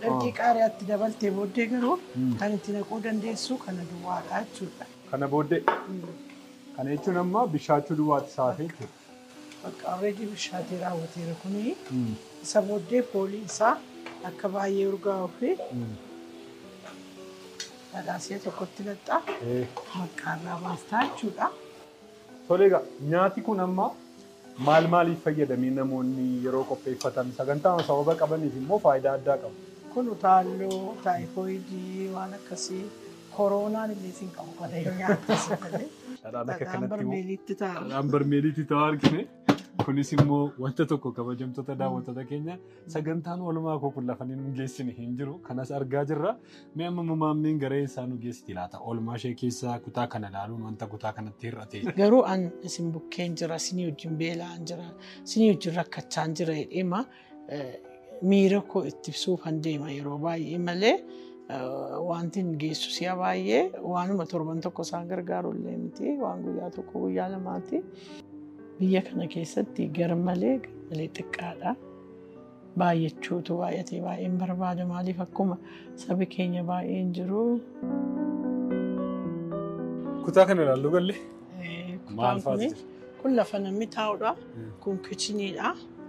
Ergi qaariyaa itti dabaltee booddee garuu kan itti naquu dandeessu kana duwwaadha jechuudha. Kana booddee? Kana jechuun amma bishaachuu duwwaatti isa hafe jechuudha. Bakka already bishaatee raawwateera kuni. Isa booddee foolii isaa akka baay'ee urgaa'uu fi dhadhaa si'a tokkotti naqxaa marqaa irraa baastaa jechuudha. Tole egaa nyaati kun amma maal maaliif fayyada mee namoonni yeroo qopheeffatan sagantaama sababa qabaniif immoo faayidaa addaa qaba. Kun utaalloo, taayifooyidii waan akkasii koroonaan illee sin qabu kana yoo nyaatte si malee. Dhadhaan akka Dhadhaan kanatti immoo barmeeliitti taa'u. dhadhaan barmeeliitti ta'aa argine. Kunis immoo wanta tokko kabajamtoota daawwattoota keenya Sagantaan oolmaa koo kun lafa inni nu geessine hin jiru. Kanas argaa jirra. Mee amma mamaammeen garee isaa nu geessiti laata? Oolmaa ishee keessaa kutaa kana ilaaluun wanta kutaa kanatti hir'ate. Garuu an isin bukkeen jira, isinii wajjin beela'aan jira, isinii wajjin rakkachaan jira jedheema miira koo itti ibsuuf han deema yeroo baay'ee malee wanti hin geessu si'a baay'ee waanuma torban tokko isaan gargaaru illee miti waan guyyaa tokko guyyaa lamaati. Biyya kana keessatti garmalee garmalee xiqqaadha. Baay'achuutu baay'atee baay'een barbaada. Maaliif akkuma sabi keenya baay'een jiru. Kutaa kana ilaallu galle. Eh, Maal Kutaan faatu kun jira? kun lafa namni taa'udha. Mm. Kun kichiniidha.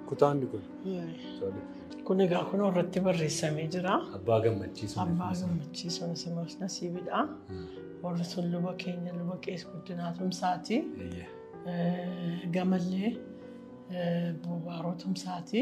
Kutaan inni kun. Eh, Kun egaa kun irratti barreessamee jira. Abbaa gammachiisu. Abbaa gammachiisuun simas nasiibidha. Warri sun luba keenya luba qees guddinaa tumsaati. Eeyyee. Gamallee Buubaaroo Tumsaati.